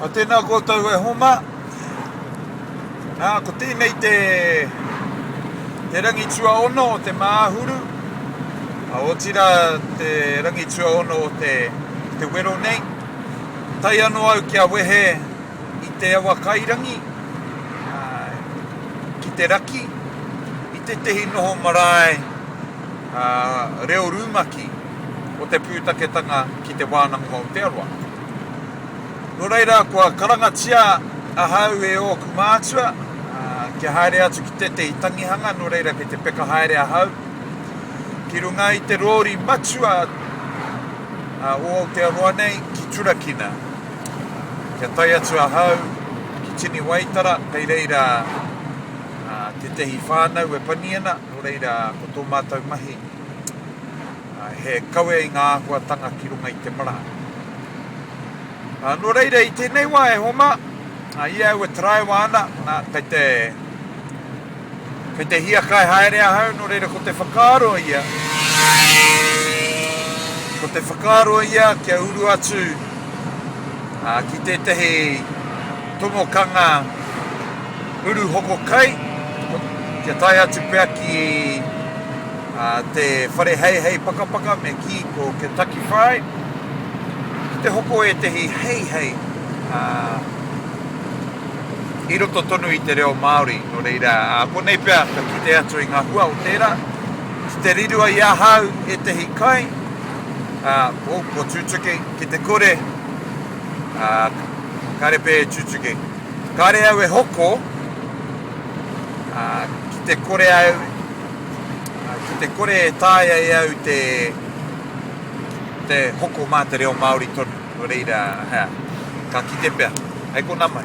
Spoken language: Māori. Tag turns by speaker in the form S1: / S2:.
S1: A tēnā koutou e homa, nā, ko tēnei te, te rangi tuaono o te māhuru, a otira te rangi tuaono o te, te wero nei. Tai ano au kia wehe i te awa kairangi, a, ki te raki, i tētehi noho marae, a, reo rumaki. o te pūtaketanga ki Te Wānanga o Aotearoa. Nō reira, kua karangatia ahau e ōku mātua, kia haere atu ki tētehi tangihanga, nō reira kei te peka haere ahau, ki runga i te rōri matua o Aotearoa nei, ki Turakina. Kia tae atu ahau ki Tini Waitara, kei reira tētehi whānau e pani ana, nō reira ko tō mātou mahi, He kawe i ngā āhuatanga ki runga i te marae. Nō reira, i tēnei wā e Homa, i a au e taraiwa ana, kei te, kei te hiakai haere ahau, nō reira ko te whakaaro ia, ko te whakaaro ia kia uru atu ki tētahi tomokanga Uru hoko kai, kia tae atu pea ki te whare heihei pakapaka me kī ko Kentucky Fried, ki te hoko ētehi heihei i roto tonu i te reo Māori. Nō reira, konei pea ka kite atu i ngā hua o tērā. Ki te rirua i ahau ētehi kai, oh, ko Tutuki, ki te kore, kāre pea e Tutuki. Kāre au e hoko, ā, ki te kore au, ā, ki te kore e taea e au te, te hoko mā te reo Māori tonu, nō reira, hea, ka kite pea. Hei konā mai.